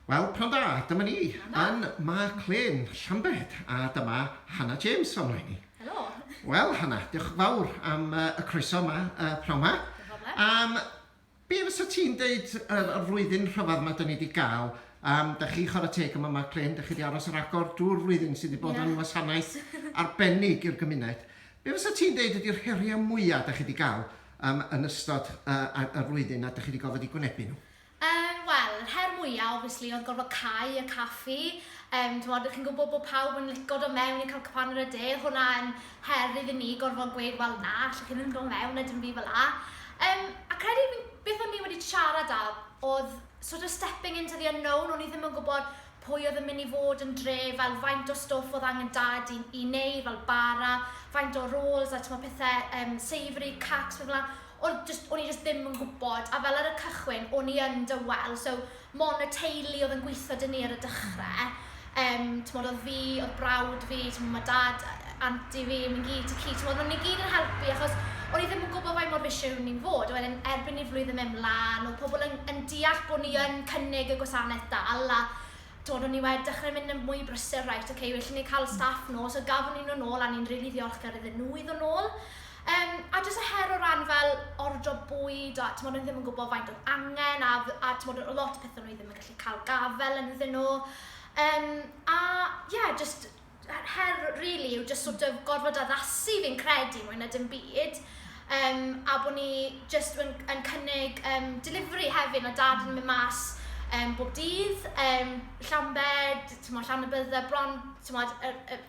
Wel, pnawn da, dyma ni yn Mark Lane, Llambed, a dyma Hannah James o'n rhaid ni. Helo. Wel, Hannah, diolch yn fawr am uh, y croeso yma, uh, pnawn yma. Um, be fysa ti'n deud yr, yr flwyddyn rhyfedd yma dyn ni wedi gael? Um, da chi chwarae teg yma, Mark Lane, da chi wedi aros yr agor drwy'r flwyddyn sydd wedi bod yn wasanaeth arbennig i'r gymuned. Be fysa ti'n deud ydy'r heriau mwyaf da chi wedi gael yym yn ystod y y y flwyddyn a 'dych chi 'di gorfod 'u gwynebu nhw? Yym wel yr her mwya obviously oedd gorfod cau y caffi yym t'mod dych chi'n gwbod bod pawb yn lico do' mewn i cael cwpan ar y de o'dd hwnna yn her iddyn ni gorfod gweud wel na allwch chi ddim do' mewn a dim byd fel 'a. Yym a credu fi'n beth o'n i wedi siarad am o'dd sort of stepping into the unknown o'n i ddim yn gwbod Pwy oedd yn mynd i fod yn dre, fel faint o stwff oedd angen dad i i neu fel bara, faint o rolls a t'mo' pethe yym savoury, cakes pethe fela. O'n jyst o'n i jyst ddim yn gwbod a fel ar y cychwyn o'n i yn dywel so mon' y teulu oedd yn gwitho 'da ni ar y dychre. Yym t'mod o'dd fi, o'dd brawd fi, t'mo' ma' dad yy Anti fi, mi gi, ti ci, t'mod, o'n ni gyd yn helpu achos o'n ni ddim yn gwybod faint mor fishi o'n ni'n fod. A wedyn erbyn i'r flwyddyn mynd mlan, oedd pobl yn, yn deall bod ni yn cynnig y gwasanaeth dal a Twod, o'n ni wedi dechrau mynd yn mwy brysur, right, ok, well i ni cael staff nôl, so gafon ni nhw nôl a ni'n rili ddiolchgar iddyn nhw i ddod nôl. Um, a jyst y her o ran fel ordro bwyd a t'mod, o'n ni ddim yn gwybod faint oedd angen a, a t'mod, o lot o pethau o'n i ddim yn gallu cael gafel ynddyn nhw. Um, a ie, yeah, jyst yr her really yw just sort of gorfod addasu fi'n credu mwy na dim byd. Um, a bod ni just yn, yn cynnig um, delivery hefyd, o dad yn mynd mas um, bob dydd, um, Llambed, tymod, llan y bydda, bron, tymod, er, er,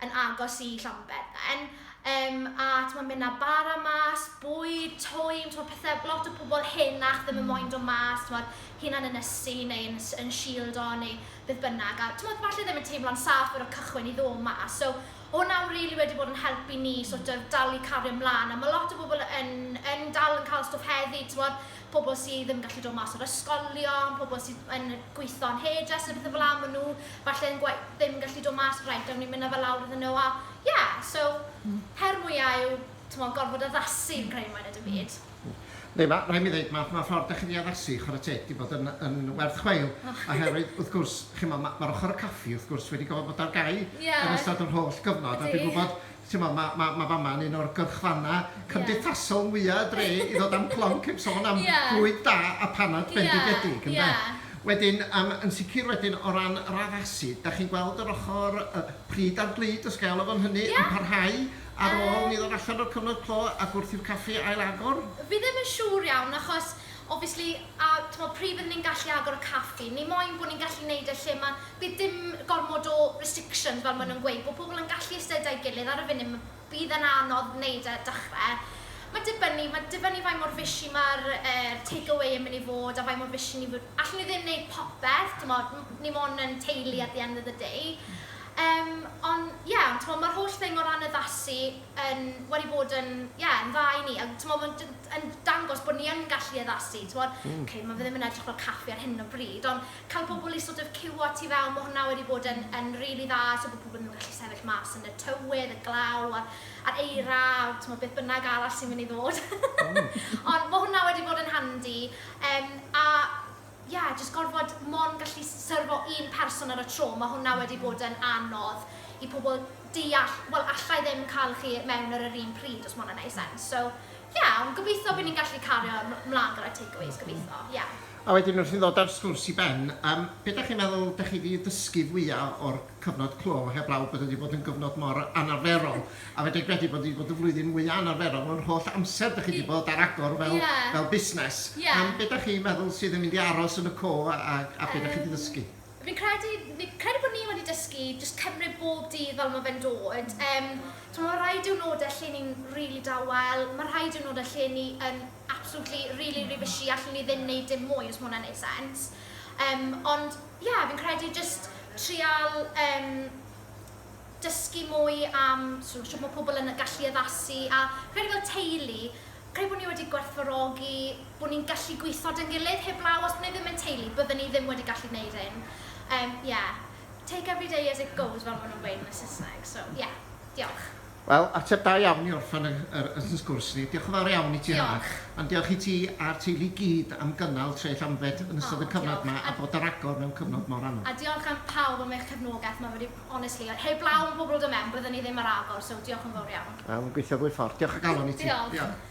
yn agos i Llambed then. Um, a tymod, mynd â bara mas, bwyd, twyn, tymod, pethau, lot o pobl henach ddim yn moyn dod mas, tymod, hunan yn ysu neu yn, yn shield o, neu beth bynnag, a t'mod falle ddim yn teimlo'n saff ar y cychwyn i ddod mas, so o' hwnna rili wedi bod yn help i ni sort of dal i cario mlan, a ma' lot o bobl yn yn dal yn cael stwff heddi, t'mod pobl sy ddim yn gallu dod mas o'r ysgolion, pobl sydd yn gweithio yn hairdress a pethe fela, ma' nhw falle yn gwe- ddim yn gallu dod mas, reit awn ni'n mynd â fe lawr iddyn nhw, a ie, so her mwya' yw t'mod gorfod addasu fi'n credu mwy na dim byd. Yndi, ma', rhaid mi ddeud, ma' ma' ffordd 'dach chi 'di addasu, chwarae teg, 'di bod yn yn werth chweil, oherwydd, wrth gwrs, chimod, ma' ma'r ochr y caffi, wrth gwrs, wedi gorfod bod ar gau yn ystod yr holl gyfnod, a dwi'n gwybod, timod, ma' ma' ma' fama yn un o'r gyrchfannau cymdeithasol mwya' y dre i ddod â'm clonc heb sôn am fwyd da a phanad bendigedig, ynde? Wedyn, yym, yn sicr wedyn, o ran yr addasu, 'dach chi'n gweld yr ochr yy pryd a'r glud, os ga'i alw fo'n hynny, yn parhau? Ar ôl ni ddod allan o'r cyfnod clo ac wrth i'r caffi ail agor? Fi ddim yn siŵr iawn achos obviously a t'mod pryd fydden ni'n gallu agor y caffi? Ni moyn bod ni'n gallu neud e lle ma' bydd dim gormod o restrictions fel ma' nhw'n gweud bod pobl yn gallu iste 'da'i gilydd ar y funud ma' bydd e'n anodd neud e dechre. Ma'n dibynnu ma'n dibynnu faint mor fishy ma'r er take away yn myn' i fod a faint mor fishy ni fo- allwn ni ddim neud popeth t'mod m- ni mon' yn teulu at the end of the day. Yym, on, ie, ond t'mod, ma'r holl thing o ran addasu yn, wedi bod yn, ie, yn dda i ni. A t'mod, ma'n d- d- yn dangos bod ni yn gallu addasu, t'mod. Ok, ma' fe ddim yn edrych fel caffi ar hyn o bryd, ond cael pobl i sort of ciwio ti fewn, ma' hwnna wedi bod yn, yn rili dda, so bod pobl ddim yn gallu sefyll mas yn y tywydd, y glaw, a'r, a'r eira, a t'mod, beth bynnag arall sy'n mynd i ddod. Ond ma' hwnna wedi bod yn handi. Yym, a, Ie, jyst gorfod mond gallu syrfo un person ar y tro, mae hwnna wedi bod yn anodd i pobl deall, wel alla i ddim cael chi mewn ar yr un pryd, os mae hwnna'n wneud sens. So, ie, ond gobeithio bydd ni'n gallu cario 'mlaen gyda takeaways, gobeithio, ie. A wedyn wrth i ni ddod â'r sgwrs i ben, yym, be dach chi'n meddwl dach chi 'di ddysgu fwya' o'r cyfnod clo, heblaw bod e 'di bod yn gyfnod mor anarferol? A fedra i gredu bod hi 'di bod y flwyddyn mwya anarferol mewn holl amser dych chi 'di bod ar agor fel... Ie. ...fel busnes. Ie. Am be dych chi'n meddwl sydd yn mynd i aros yn y co a a a be dych chi 'di ddysgu? Yym fi'n credu ni credu bod ni wedi dysgu jyst cymryd bob dydd fel ma' fe'n dod. Yym t'mo' ma' rhai diwrnode lle ni'n rili dawel, ma' rhai diwrnode lle ni yn absolutely rili rili bushy allwn ni ddim neud dim mwy os ma' wnna'n neud sense. Yym ond ie fi'n credu jyst trial yym dysgu mwy am sw- shwt mae pobl yn gallu addasu, a credu fel teulu, credu bod ni wedi gwerthfawrogi bod ni'n gallu gweithio 'da'n gilydd, heblaw os bod ni ddim yn teulu, bydden ni ddim wedi gallu gwneud hyn. Yym, ie. Take every day as it goes, fel maen nhw'n gweud yn y Saesneg. So, ie. Diolch. Wel, ateb da iawn i orffen y yr y sgwrs ni. Diolch yn fawr iawn i ti, Hannah. Diolch. A'n diolch i ti a'r teulu i gyd am gynnal Treill Anfed yn ystod y cyfnod 'ma a bod ar agor mewn cyfnod mor anodd. A diolch am pawb am eich cefnogaeth, mae wedi Honestly, like heblaw am pobl dod mewn bydden i ddim ar agor, so diolch yn fawr iawn. Wel, yn gweithio ddwy ffordd. Diolch o galon i ti. Diolch. Diolch.